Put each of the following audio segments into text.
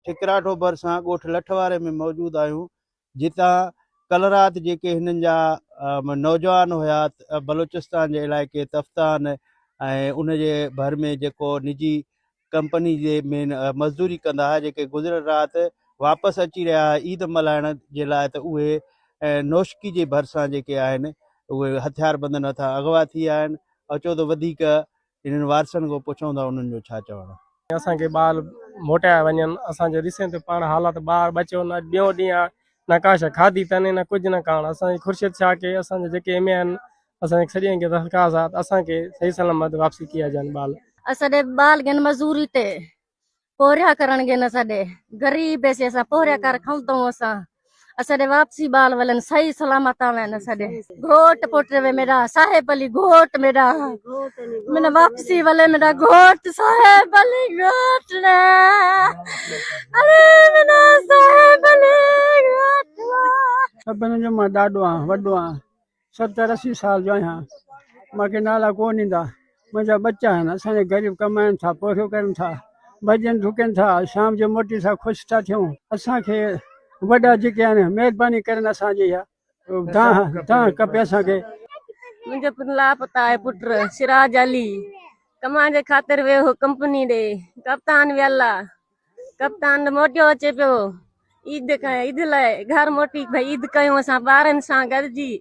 ٺڪرا ٺو ڀرسان ڳوٺ لٺ واري ۾ موجود آهيون جتان ڪل رات جيڪي هنن جا نوجوان هيا بلوچستان جي علائقي تفتان ۽ ان جي ڀر ۾ جيڪو نجي ڪمپني جي مين مزدوري ڪندا هئا جيڪي گذريل رات واپس اچي رهيا هئا عيد ملهائڻ جي لاء ته اهي نوشڪي جي ڀرسان جيڪي آهن اهي هٿيار بندن هٿان اغوا ٿي آهن اچو ته وڌيڪ انهن وارثن کان پڇون ٿا انهن جو ڇا چوڻ. اسان کي ٻار موٽايا وڃن اسان جو ڏسين ته پاڻ حالات ٻار ٻچو نه اڄ ٻيون ڏينهن آ نه ڪا شئي کاڌي تنهن نه ڪجهه نه ڪاڻ اسان جي خورشيد شاهه کي اسان جا جيڪي ايم اي آهن اسان جي سڄڻ کي درخواست آ ته اسان کي صحيح سلامت واپسي ڪيا جان ٻال. اسان ڏي ٻال گهن مزوري تي پورهيا ڪرڻ گي نه سڏي غريب بيسي اسا پورهيا ڪر کون تو اسا اسا دي واپسي بال ولن صحيح سلامت آوين نه سڏي گھوٽ پوٽ وي میرا صاحب علي گھوٽ میرا من واپسي ولن میرا گھوٽ صاحب علي گھوٽ نه اري منا صاحب علي گھوٽ سڀن جو مان ڏاڏو آ وڏو آ ستر اسي سال جو آهيان مانکي نالا ڪون ايندا منهنجا ٻچا آهن اسان جا غريب ڪمائن ٿا پورهيو ڪرن ٿا ڀڄن ڊڪن ٿا شام جو موٽي سان خوش ٿا ٿيون اسان کي وڏا جيڪي آهن مهرباني ڪرن اسان جي اها دانهن دانهن کپي اسان کي منهنجو پڻ لاپتا آهي پٽ سراج علي ڪمائن جي خاطر ويو هو ڪمپني ڏي ڪپتان ويلا ڪپتان ته موٽيو اچي پيو عيد کان عيد لاء گهر موٽي ڀئي عيد ڪيون اسان ٻارن سان گڏجي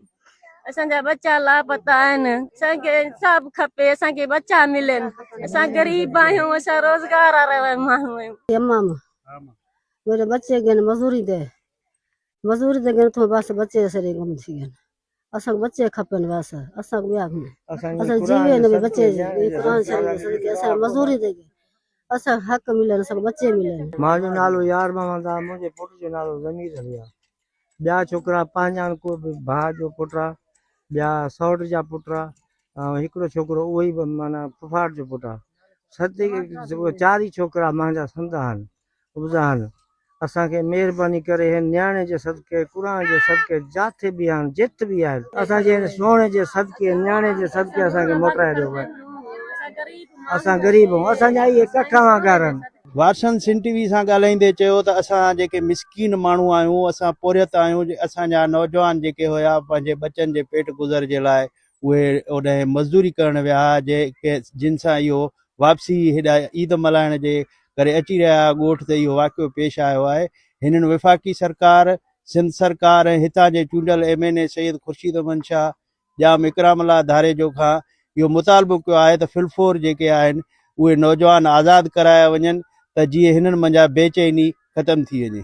اسان جا ٻچا لاپتا آهن اسان کي انصاف کپي اسان کي ٻچا ملن اسان غريب آهيون اسان روزگار وارا ماڻهو آهيون امام منهنجا ٻچي گين مزوري تي مزوري تي گين ٿو بس ٻچي سري گم ٿي گين اسانکي بچي کپين بس اسانکي ٻيا ڪونه اسان جي جيوي هن ۾ بچي جي قرآن شريف جي صدقي اسانکي مزوري تي ڪي اسانکي حق ملين اسانکي بچي ملين. مان جو نالو يار محمد آ منهنجي پٽ جو نالو ضمير علي آ ٻيا ڇوڪرا پنهنجان ڪو به ڀاء جو پٽ آ ٻيا سئوٽ جا پٽ آ ۽ هڪڙو ڇوڪرو اهوئي به معنيٰ ڦوڦاٽ جو پٽ آ صدقي چار ئي ڇوڪرا مهنجا سندها آهن ابزاهن، اسان کي مهرباني ڪري هن نياڻي جي صدقي، قرآن جي صدقي، جاٿي به آهن، جت به آهن، اسان جي هن سهڻي جي صدقي، نياڻي جي صدقي اسان کي موٽرائي ڏيو ڀاء. اسان غريب هون، اسان جا اهي ڪٺ اوهان گهر هن. وارسن سنڌ ٽي وي سان ڳالهائيندي چيو ته اسان جيڪي مسڪين ماڻهو آهيون، اسان پورهيت آهيون، اسان جا نوجوان جيڪي هيا پنهنجي ٻچن جي پيٽ گذر جي لاء اهي اوڏانهن مزدوري ڪرڻ ويا ها، جن سان اهو واپسي هيڏا عيد ملهائڻ جي ڪري اچي رهيا ها، ڳوٺ تي اهو واقعو پيش آيو آهي، هنن وفاقي سرڪار، سنڌ سرڪار ۽ هتان جي چونڊيل M N A Syed Khurshid Ahmed Shah, Jam Ikramullah Dharejo کان اهو مطالبو ڪيو آهي ته ڦلفور جيڪي آهن اهي نوجوان آزاد ڪرايا وڃن ته جيئن هنن منجهان بي چيني ختم ٿي وڃي.